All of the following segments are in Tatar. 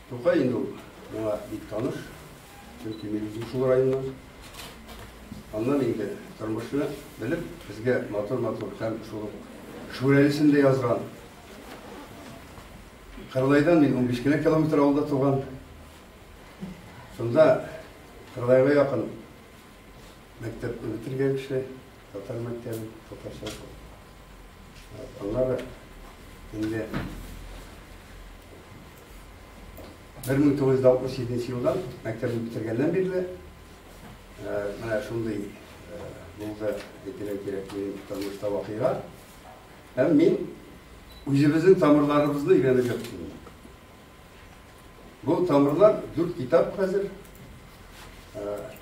Тукай инде ул миңа бик таныш, чөнки мин үзем шул районнан. Аннан инде тормышны белеп, безгә матур-матур һәм шул Шүрәлесен дә язган. Кырлайдан мин 15 кенә километр алда туган. Шунда Кырлайга якын мәктәпне бетергән кеше, татар мәктәбе, татарча Алар инде 1967 елдан мәктәпне бетергәннән бирле менә шундый булды әйтергә кирәк минем тормышта вакыйга. Һәм мин үзебезнең тамырларыбызны өйрәнеп яттым. Бу тамырлар дүрт китап хәзер.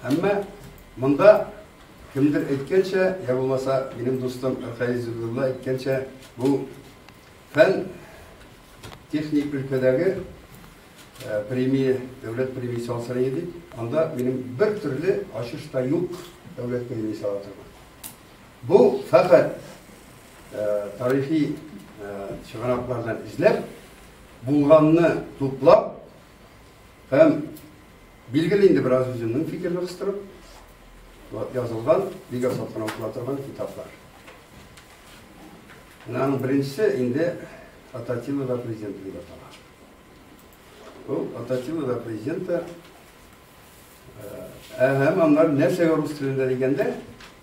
Әмма монда кемдер әйткәнчә, я булмаса, минем дустым Рәхәй Зубилла әйткәнчә, бу фән техник өлкәдәге премия, дәүләт премиясе алсыры иде. Анда минем бер төрле ачыш та юк дәүләт премиясе ала торган. Бу фәкать тарихи чыганаклардан эзләп Булганны туплап һәм билгеле инде бераз үземнең фикерне кыстырып язылган, бик аз кына укыла торган китаплар. Менә аның беренчесе инде Ататилова президент дип атала. Ул Ататилова президенты Һәм аннары нәрсәгә рус телендә дигәндә,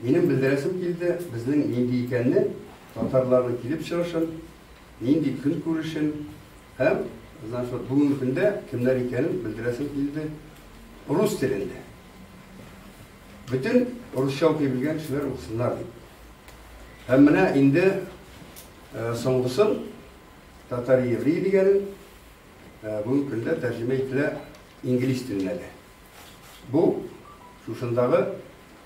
минем белдерәсем килде, безнең нинди икәнне, татарларның килеп чыгышын, нинди көн күрешен һәм значит, бүгенге көндә кемнәр икәнен белдерәсем килде рус телендә. Бөтен русча укый белгән кешеләр укысыннар дип. Һәм менә инде э, соңгысын татар еврей дигәнен э, бүгенге көндә тәрҗемә ителә Инглиз теленә дә. Бу, шушындагы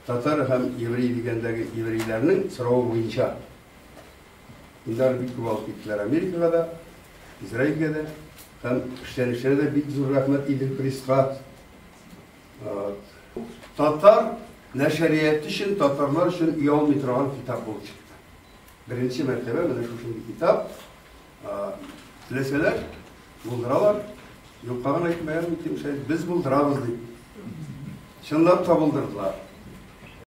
татар һәм еврей дигәндәге еврейләрнең соравы буенча. Инде алар бик күп алып киттеләр Америкага да, Израильгә дә. Һәм эшләнешенә дә бик зур рәхмәт Идел пресска. Татар нәшәрияте өчен, татарлар өчен оялмый торган китап булып чыкты. Беренче мәртәбә менә шушындый китап. Теләсәләр, булдыралар. Юкка гына әйтмәгән, без булдырабыз, дип. Чынлап та булдырдылар.